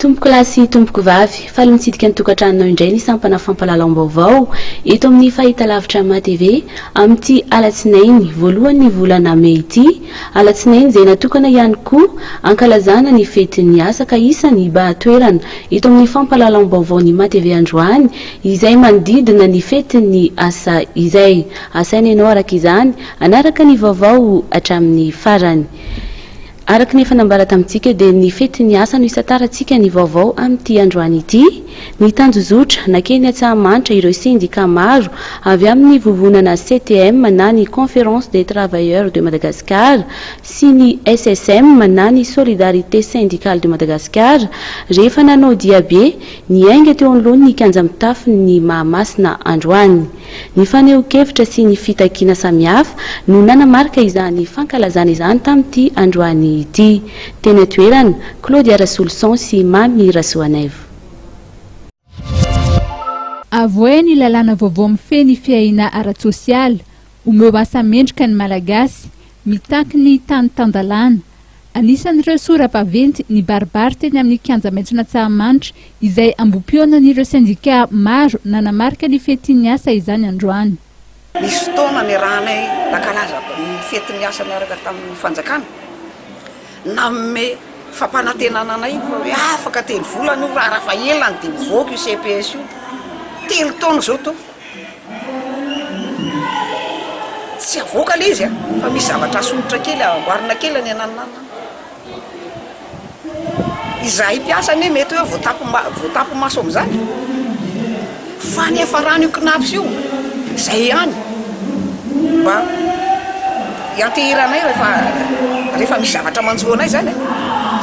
Tompokolahy sy tompokovavy, faly mitsidika ny tokantranonao indray ny sampana fampahalalam-baovao eto amin'ny fahitalavitra MATV, amin'ity alatsinainy voalohan'ny volana mey ity, alatsinainy izay natokana ihany koa hankalazana ny fetin'ny asa ka isan'ny baha toerana eto amin'ny fampahalalam-baovaon'ny MATV androany izay manodidina ny fetin'ny asa izay. Asaina ianao araka izany hanaraka ny vaovao hatramin'ny farany. Araka ny efa nambara tamintsika dia ny fetin'ny asa no isantarantsika ny vaovao amin'ity androany ity. Nitanjozotra, nankeny Antsahamanitra ireo sendikà maro avy amin'ny vovonana CTM na ny Conférence des Travailleurs de Madagascar sy ny SSM na ny Solidarité Syndicale de Madagascar rehefa nanao diabe niainga teo anoloan'ny kianja mitafon'ny Mahamasina androany. Ny fanehoan-kevitra sy ny fitakiana samihafa no nanamarika izany fankalazana izany tamin'ity androany ity. Teny an-toerana, Claudia Rasoloson sy Mamy Rasoanaivo. Avohay ny lalàna vaovao mifehy ny fiahiana ara-tsosialy, omeo asa mendrika ny Malagasy, mitaky ny tany tan-dalàna. Anisan'ireo sora-baventy nibaribary teny amin'ny Kianja Maitson'Antsahamanitra izay ambohipihaonan'ireo sendikà maro nanamarika ny fetin'ny asa izany androany. Nisy fotoana niarahanay nankalaza ny fetin'ny asa niaraka tamin'ny fanjakana. Nanome fampanantenana anay fa hoe afaka telo volana io raha fa ela no dia mivoaka io CPS io. Telo taona izao toa Tsy avoaka le izy a! Fa misy zavatra asomotra kely amboarina kely any ananona any. Izahay mpiasa anie mety hoe voatapo voatapo maso amin'izany. Fa ny afaran'io Cnaps io izay ihany mba ianteheranay rehefa rehefa misy zavatra manjo anay izany a.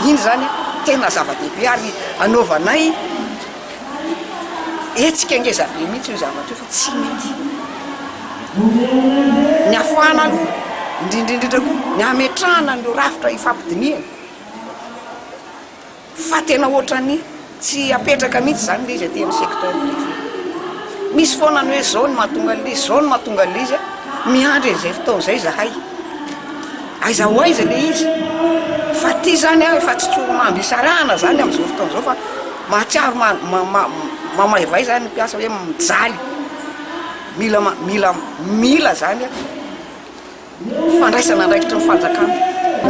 Iny izany tena zava-dehibe ary anaovanay. Hetsika ngeza be mihitsy io zavatra io fa tsy mety. Ny hafahana aloha, indrindra indrindra koa ny hametrahana an'ireo rafitra ifampidinihana fa tena ohatran'ny tsy apetraka mihitsy izany ilay izy aty amin'ny secteur privé. Misy foana ny hoe izao no mahatonga an'ilay izy, izao no mahatonga an'ilay izy, miandry an'izay fotoana izay izahay. Aiza ho aiza le izy fa ty zany a efa tsy tsoromamby isarahana zany amzao fotoana zao fa mahatsiaro mamaivay zany ny mpiasa hoe mijaly mila mila mila zany a fandraisana andraikitry ny fanjakana.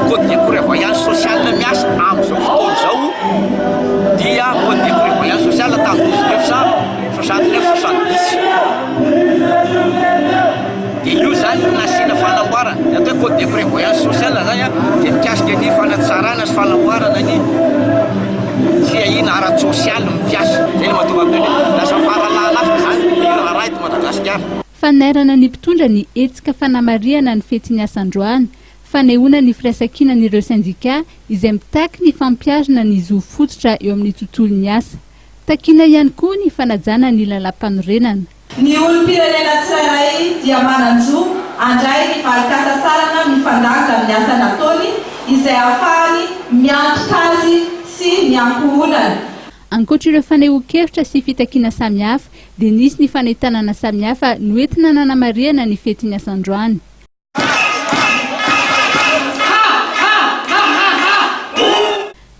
Code de prevoyance sociale miasa amzao fotoana zao dia code de prevoyance sociale tamin'ny douze neuf cent soixante neuf soixante dix. Dia io izany no nasiana fanamboarana, ny atao hoe code de prévoyance sociale izany dia mikasika ny fanatsarana sy fanamboarana ny fiahiana ara-tsosialy ny mpiasa. Izay ilay mahatonga an'ireny hoe lasa fara-lahalasa izany ny raharaha eto Madagasikara. Fanairana ny mpitondra ny hetsika fanamarihana ny fetin'ny asa androany, fanehoana ny firaisankinan'ireo sendikà izay mitaky ny fampiharana ny zo fototra eo amin'ny tontolon'ny asa. Takiana ihany koa ny fanajana ny lalàmpanorenana. Ny olom-pirenena tsirairay dia manan-jo handray ny valin-kasasarana mifandanja amin'ny asa nataony izay hahafahany miantoka azy sy ny ankohonany. Ankoatra ireo fanehoan-kevitra sy fitakiana samihafa dia nisy ny fanentanana samihafa noentina nanamarihana ny fetin'ny asa androany.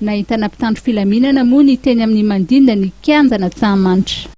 Nahentana mpitandro filaminana moa ny teny amin'ny mandinda ny kianjan'Antsahamanitra.